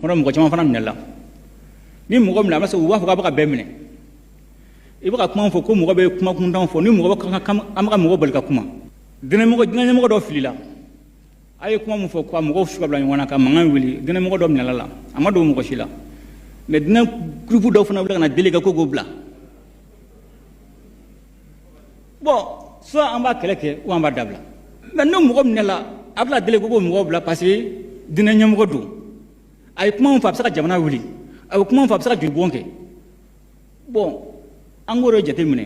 kɔnɔ mɔgɔ caman fana minɛla ni mɔgɔ minɛ a b'a sɔrɔ u b'a fɔ k'a bɛ ka bɛɛ minɛ i bɛ ka kuma fɔ ko mɔgɔ bɛ kuma kuntanw fɔ ni mɔgɔ bɛ ka kan an bɛ ka mɔgɔ bali ka kuma dinɛmɔgɔ dinɛmɔgɔ dɔ filila a ye kuma min fɔ ka mɔgɔw su ka bila ɲɔgɔn na ka mankan wuli dinɛmɔgɔ dɔ minɛla la a ma dogo mɔgɔ si la mɛ dinɛ gurupu dɔw fana wuli ka na deli kɛ ko k'o bila bon soit an b'a kɛlɛ kɛ ou an b'a dabila mɛ ni mɔgɔ minɛla a bɛna deli ko k'o mɔgɔ bila parce que dinɛ ɲɛmɔgɔ don a ye kuma min fɔ a bɛ se ka jamana wuli a ye kuma min fɔ a bɛ se ka jolibɔn kɛ bon an k'o de jateminɛ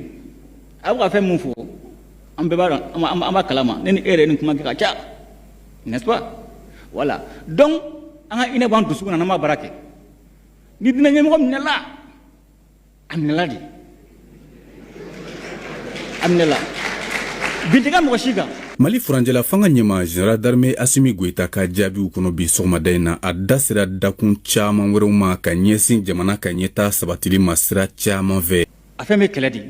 a bɛ ka fɛn min fɔ an bɛɛ b'a dɔn an b'a kalama ne ni e yɛrɛ ni kuma kɛ ka ca n'est-ce pas voilà donc an ka hinɛ b'an dusukun na n'an b'a baara kɛ ni dinɛ ɲɛmɔgɔ minɛla a minɛla de a minɛla bin tɛ kɛ mɔgɔ si kan mali furancɛla fanga ɲɛma general darme asimi goyita ka jaabiw kɔnɔ bi sɔgɔmada in na a da sera dakun caaman wɛrɛw ma ka ɲɛsin jamana ka ɲɛtaa sabatili ma sira caaman fɛ a fɛn be kɛlɛ de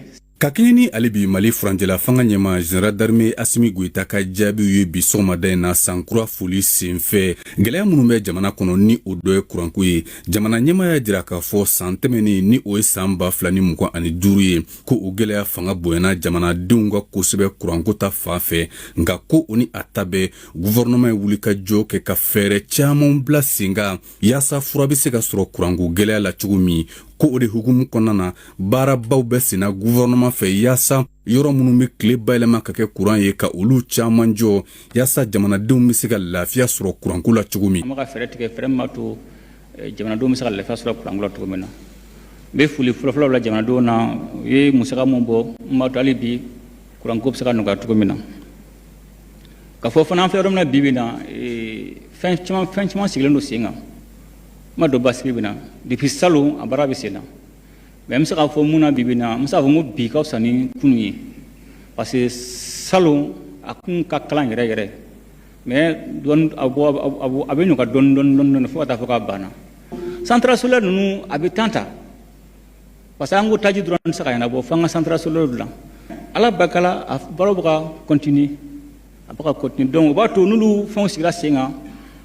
ka kɛɲɛ ni ale bi mali furancɛla fanga ɲɛma general darme asimi goyita ka jaabiw ye bi sɔgɔmada in na san kura foli senfɛ gwɛlɛya minw bɛ jamana kɔnɔ ni o dɔ ye kuranko ye jamana ɲɛma y'a jira k'a fɔ saan tɛmɛnin ni o ye saan ba fila ni mugan ani duuru ye ko o gwɛlɛya fanga bonyana jamanadenw kan kosɛbɛ kuranko ta fan fɛ nka ko o ni a ta bɛɛ guvɛrɛnɛman ye wulikajɔ kɛ ka fɛɛrɛ caaman bila sen kan yaasa fura be se ka sɔrɔ kuranko gwɛlɛya la cogo min ko o de hukumu kɔnɔna na baarabaw bɛ senna guvɛrɛnɛman fɛ yaasa yɔrɔ minnu be tile bayɛlɛma ka kɛ kuran ye ka olu caaman jɔ Yaasa jamanadenw bɛ se ka lafiya sɔrɔ kuranko la cogo min. An bɛ ka fɛɛrɛ tigɛ fɛɛrɛ min b'a to jamanadenw bɛ se ka lafiya sɔrɔ kuranko la cogo min na. N bɛ foli fɔlɔfɔlɔ bila jamanadenw na u ye musaka min bɔ n b'a to hali bi kuranko bɛ se ka nɔgɔya cogo min na. K'a fɔ fana an filɛ yɔrɔ min na bi bi in na fɛn caman fɛn caman sigilen don sen kan. N ma don basigi bɛ na depuis salon a baara bɛ sen na. Mɛ n bɛ se k'a fɔ mun na bi bi in na n bɛ se k'a fɔ ko bi ka fisa ni kunun ye parce que salon a kun ka kalan yɛrɛ yɛrɛ mɛ a bɛ nɔgɔya dɔɔni dɔɔni fo ka taa fɔ k'a banna centrale solaire ninnu a bɛ temps ta parce que an ko taji dɔrɔn tɛ se k'a ɲɛnabɔ fo an ka centrale solaire dilan ala barika la a baaraw bɛ ka continuer a bɛ ka continuer donc o b'a to n'olu fɛnw sigira sen kan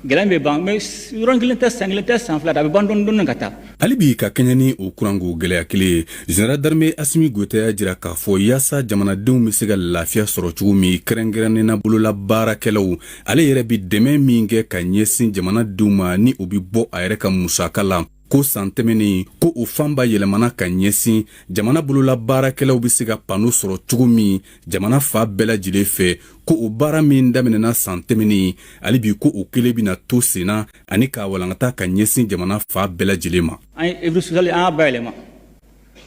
gɛlɛya bɛ ban mais yɔrɔnin kelen tɛ san kelen tɛ san fila tɛ a bɛ ban dɔɔni dɔɔni ka taa hali bi ka kɛɲɛ ni o kuranko gɛlɛya kelen ye general darme asimi goyita y'a jira k'a fɔ yaasa jamanadenw bɛ se ka lafiya sɔrɔ cogo min kɛrɛnkɛrɛnnena bolola baarakɛlaw ale yɛrɛ bɛ dɛmɛ min kɛ ka ɲɛsin jamanadenw ma ni o bɛ bɔ a yɛrɛ ka musaka la ko san tɛmɛnen ko o fanba yɛlɛmana ka ɲɛsin jamana bolola baarakɛlaw bɛ se ka pano sɔrɔ cogo min jamana fan bɛɛ lajɛlen fɛ ko o baara min daminɛna san tɛmɛnen hali bi ko o kelen bɛna to senna ani k'a walankata ka ɲɛsin jamana fan bɛɛ lajɛlen ma an ye œuvre sociale an y'a bayɛlɛma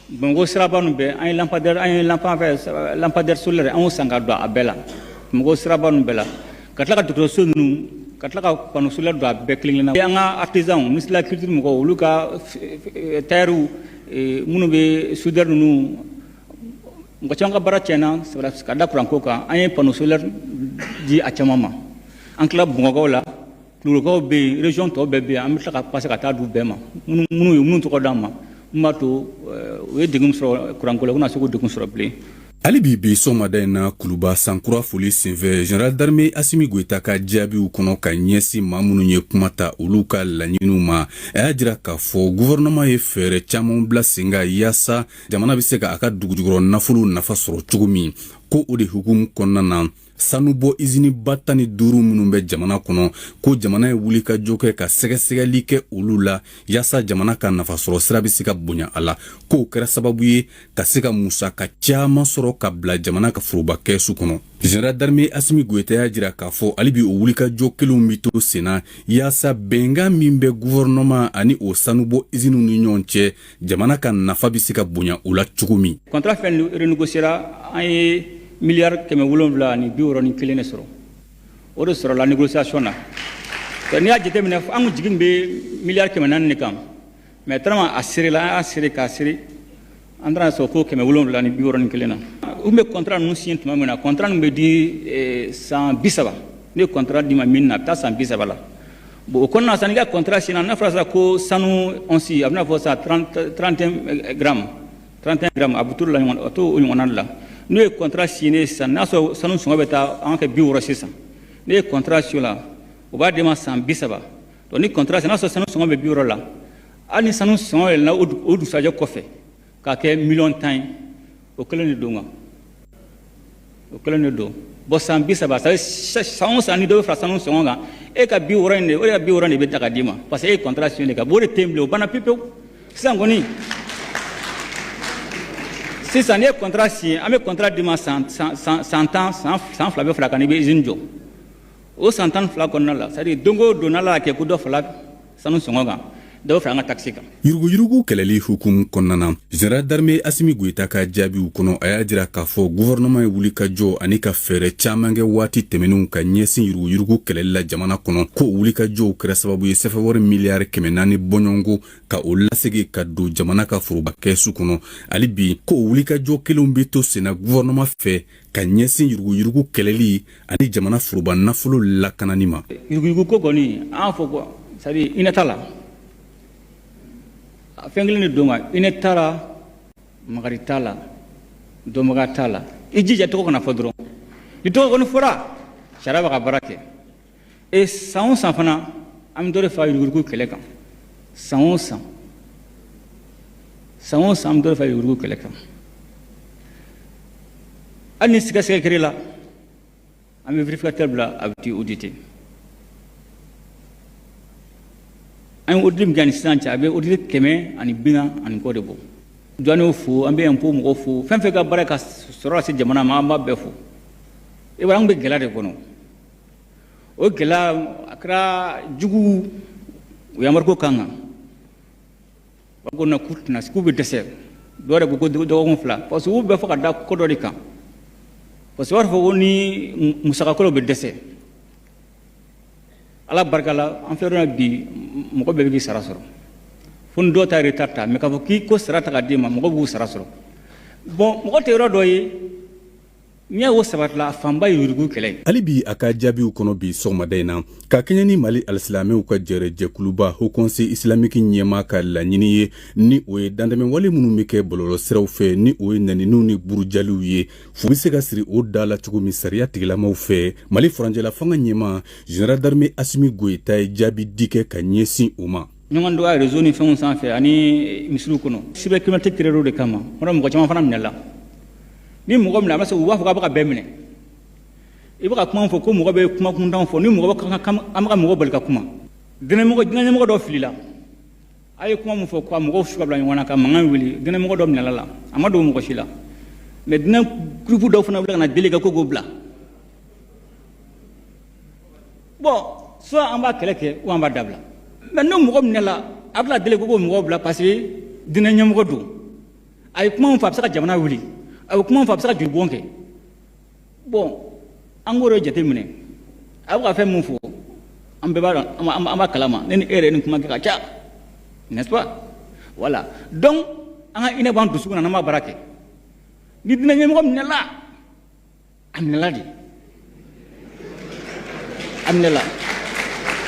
Bamakɔ siraba ninnu bɛɛ an ye an ye lampadaire solaire an y'o san ka don a bɛɛ la Bamakɔ siraba bɛɛ la ka tila ka dɔgɔtɔrɔso ninnu ka tila ka panneau solaire don a bɛɛ kelen na an ka artisan ministre de la culture mɔgɔw olu ka tailleurw minnu bɛ soudeur ninnu mɔgɔ caman ka baara tiɲɛna ka da kuranko kan an ye panneau solaire di a caman ma an tila Bamakɔkaw la Kulukɔrɔkaw bɛ yen région tɔw bɛɛ bɛ yen an bɛ tila ka passer ka taa d'u bɛɛ ma minnu ye minnu tɔgɔ d'an ma min b'a to u ye degun sɔrɔ kuran ko la u kana se k'o degun sɔrɔ bilen. Hali bi bi sɔgɔmada in na Kuluba san kura foli senfɛ Général d'armée Asimi Goyita ka jaabiw kɔnɔ ka ɲɛsin maa minnu ye kuma ta olu ka laɲiniw ma, a y'a jira k'a fɔ gouvernement ye fɛɛrɛ caman bila sen kan yaasa jamana bɛ se ka a ka dugujukɔrɔ nafolo nafa sɔrɔ cogo min, ko o de hukumu kɔnɔna na, sanubɔ iziniba tan ni duuru minnu bɛ jamana kɔnɔ ko jamana ye wulikajɔ kɛ ka sɛgɛsɛgɛli kɛ olu la yaasa jamana ka nafasɔrɔ sira bɛ se ka bonya a la k'o kɛra sababu ye ka se ka musaka caman sɔrɔ ka bila jamana ka foroba kɛsu kɔnɔ général d'armée asimi goyita y'a jira k'a fɔ hali bi o wulikajɔ kelenw bɛ to senna yaasa bɛnkan min bɛ guvɛrɛnɛman ani o sanubɔ iziniw ni ɲɔgɔn cɛ jamana ka nafa bɛ se ka bonya u la cogo min kɔntara fɛn renégociera an ye miliyari kɛmɛ wolonwula ni bi wɔɔrɔ ni kelen de sɔrɔ o de sɔrɔla négociation na n'i y'a jateminɛ an kun jigi bɛ miliyari kɛmɛ naani de kan mais tellement a serela an y'a sere k'a sere an taara sɔrɔ ko kɛmɛ wolonwula ni bi wɔɔrɔ ni kelen na u bɛ kɔntara ninnu siɲɛ tuma min na kɔntara ninnu bɛ di eh, san bi saba ne ye kɔntara d'i ma min na a bɛ taa san bi saba la Bon o kɔnɔna na sisan n'i ka contrat signéna n'a fɔra sisan ko sanu ɔnsi a bɛna fɔ sisan 30 31 grammes 31 grammes a bɛ t'o de la ɲɔgɔn a t'o o ɲɔgɔnna de la n'o ye contrat signé sisan n'a sɔrɔ sanu sɔngɔ bɛ taa an ka kɛ 60 sisan n'e ye contrat signé o la o b'a d'e ma san 30 donc ni contrat signéna n'a sɔrɔ sanu sɔngɔ bɛ 60 la hali ni sanu sɔngɔ yɛlɛnna o dugusajɛ kɔfɛ ka kɛ miliyɔn tan ye o kelen de don kan o kelen de don bon san bi saba sa san o san ni dɔ bɛ fara sanu sɔngɔ kan e ka bi wɔɔrɔ in de o de ka bi wɔɔrɔ de bɛ ta ka d'i ma parce que e ye kɔntara siɲɛ de kan bon o de tɛ yen bilen o banna pewu pewu sisan kɔni sisan n'i ye kɔntara siɲɛ an bɛ kɔntara d'i ma san san san tan san san fila bɛ far'a kan n'i bɛ izini jɔ o san tan fila kɔnɔna la c'est à dire don o don n'Ala y'a kɛ ko dɔ fara sanu sɔngɔ kan dɔw fara an ka takisi kan yuruguyurugu kɛlɛli hukumu kɔnɔna na zɛnɛral darme asimi goyita ka jaabiw kɔnɔ a y'a jira k'a fɔ guvɛrɛnɛman ye wuli ka jɔ ani ka fɛɛrɛ caaman kɛ waati tɛmɛninw ka ɲɛsin yuruguyurugu kɛlɛli la jamana kɔnɔ ko wuli ka jɔw kɛra sababu ye sɛfɛwari miliyari kɛmɛ naani bɔɲɔgɔnko ka o lasegi ka don jamana ka foroba kɛsu kɔnɔ hali bi ko wuli ka jɔ kelenw bɛ to senna guvɛrɛnɛman fɛ ka ɲɛsin yuruguyurugu kɛlɛli ani jamana foroba nafolo lakanani ma yuruguyurugu ko kɔni an fɔ quoi c'est à dire hinɛ t'a la fɛn kelen de don ka hinɛ t'a la makari t'a la dɔnbaga t'a la i jija tɔgɔ kana fɔ dɔrɔn n'i tɔgɔ kɔni fɔra sariya b'a ka baara kɛ e san o san fana an bɛ dɔ de fara yuruguyurugu kɛlɛ kan san o san san o san an bɛ dɔ de fara yuruguyurugu kɛlɛ kan hali ni sigasiga kɛra la an bɛ vérificateur bila a bɛ t'i auditer an ye audit min kɛ ani sisan cɛ a bɛ audit kɛmɛ ani bi naani ani kɔ de bɔ douaniers fo an bɛ impôt mɔgɔw fo fɛn fɛn ka baara ka sɔrɔ lase jamana ma an b'a bɛɛ fo i b'a ye an bɛ gɛlɛya de kɔnɔ o gɛlɛya a kɛra juguw y'embargo k'an kan ba ko na k'u tɛna k'u bɛ dɛsɛ dɔw yɛrɛ ko ko dɔgɔkun fila parce que u b'a fɔ ka da ko dɔ de kan parce que u b'a fɔ ko ni musakakolo bɛ dɛsɛ ala barika la an filɛ yɔrɔ bi mɔgɔ bɛɛ b'i sara sɔrɔ fo ni dɔw ta retard ta mɛ k'a fɔ k'i ka sara tɛ ka d'i ma mɔgɔ b'u sara sɔrɔ bɔn mɔgɔ tɛ yɔrɔ dɔ ye N'i y'a ye o sabatila a fanba ye yuruguyurugu kɛlɛ ye. Hali bi a ka jaabiw kɔnɔ bi sɔgɔmada in na, ka kɛɲɛ ni Mali alisilamɛw ka jɛrɛjɛkuluba Haut Conseil islamique ɲɛmaa ka laɲini ye, ni o ye dantɛmɛwale minnu bɛ kɛ bɔlɔlɔsiraw fɛ, ni o ye nɛniniw ni burujaliw ye, fu bɛ se ka siri o da la cogo min sariya tigilamaw fɛ. Mali furancɛlafanga ɲɛmaa, General d'armee Assimi Goita ye jaabi di kɛ ka ɲɛsin o ma. ɲɔgɔn dɔgɔya rezo ni fɛnw sanfɛ ani misiriw kɔnɔ cybercriminalité créera o de kama o la mɔgɔ caman fana minɛla ni mɔgɔ minɛ a bɛ se u b'a fɔ k'a bɛ ka bɛɛ minɛ i bɛ ka kuma fɔ ko mɔgɔ bɛ kuma kuntan fɔ ni mɔgɔ an bɛ ka mɔgɔ bali ka kuma dinɛmɔgɔ dinɛmɔgɔ dɔ filila a ye kuma min fɔ ko mɔgɔw su ka bila ɲɔgɔn na ka mankan wuli dinɛmɔgɔ dɔ minɛla la a ma dogo mɔgɔ si la mɛ dinɛ kurupu dɔ fana wuli ka na deli kɛ ko k'o bila bɔn soit an b'a kɛlɛ kɛ ou an b'a dabila mɛ ni mɔgɔ minɛla a bɛna deli ko k'o mɔgɔ bila parce que dinɛ ɲɛmɔgɔ don a ye kuma fɔ a bɛ se ka jamana wuli a bɛ kuma fɔ a bɛ se ka jolibɔn kɛ bɔn an k'o de jateminɛ a bɛ ka fɛn min fɔ an bɛɛ b'a dɔn an b'a kalama ne ni e yɛrɛ ni kuma kɛ ka ca n'est-ce pas voilà donc an ka hinɛ b'an dusukun na n'an b'a baara kɛ ni dinɛ ɲɛmɔgɔ minɛla a minɛla de a minɛla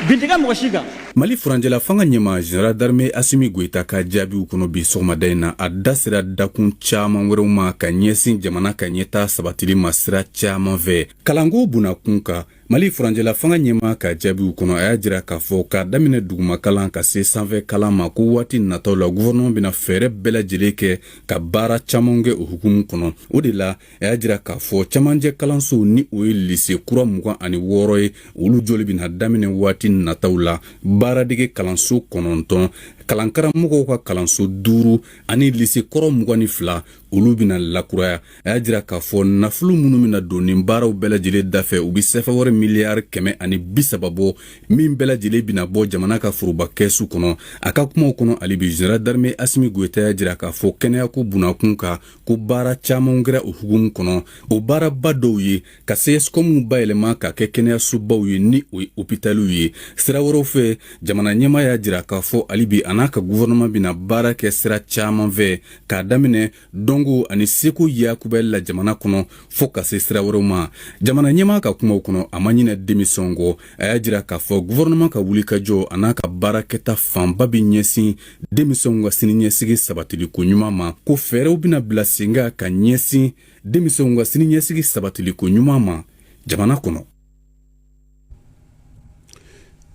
bin tɛ kɛ mɔgɔ si kan mali furancɛla fanga ɲɛma general darme asimi goyita ka jaabiw kɔnɔ bi sɔgɔmada in na a da sera dakun caaman wɛrɛw ma ka ɲɛsin jamana ka ɲɛtaa sabatili ma sira caaman fɛ kalanko bunakun kan mali furancɛla fanga ɲɛma ka jaabiw kɔnɔ a y'a jira k'a fɔ k'a daminɛ dugumakalan ka se sanfɛ kalan ma ko waati nataw la guvɛrɛnɛman bɛna fɛɛrɛ bɛɛ lajɛlen kɛ ka baara caaman kɛ o hukumu kɔnɔ o de la a y'a jira k'a fɔ cɛmancɛ kalansow ni o ye lise kura mugan ani wɔɔrɔ ye olu joli bɛna daminɛ waati nataw la baaradege kalanso kɔnɔntɔn kalankaramɔgɔw ka kalanso duuru ani lise kɔrɔ mugan ni fila olu bɛna lakuraya a y'a jira k'a fɔ nafolo minnu bɛna don nin baaraw bɛɛ lajɛlen dafɛ u bɛ sefawari miliyari kɛmɛ ani bisaba bɔ min bɛɛ lajɛlen bɛna bɔ jamana ka foroba kɛsu kɔnɔ a ka kumaw kɔnɔ hali bi zenerali darime asimi goyita y'a jira k'a fɔ kɛnɛyako bunnakun kan ko baara caaman kɛra o hukumu kɔnɔ o baaraba dɔw ye ka sɛsikɔmu bayɛlɛma ka kɛ kɛnɛyasobaw ye ni o ye opitaliw ye sira wɛrɛw fɛ jamana ɲɛma y'a jira k'a fɔ hali bi a n'a ka guvɛrɛnɛman bɛna baara kɛ sira caaman fɛ k'a daminɛ dɔnko ani seko yakubɛli la jamana kɔnɔ fo ka se sira wɛrɛw ma jamana ɲɛma ka kumaw kɔnɔ a ma ɲinɛ denmisɛnw kɔ a y'a jira k'a fɔ guvɛrɛnɛman ka wulikajɔ a n'a ka baara kɛta fanba bɛ ɲɛsin denmisɛnw ka siniɲɛsigi sabatiliko ɲuman ma ko fɛɛrɛw bɛna bila sen kan ka ɲɛsin denmisɛnw ka siniɲɛsigi sabatiliko ɲuman ma jamana kɔnɔ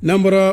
n'an bɔra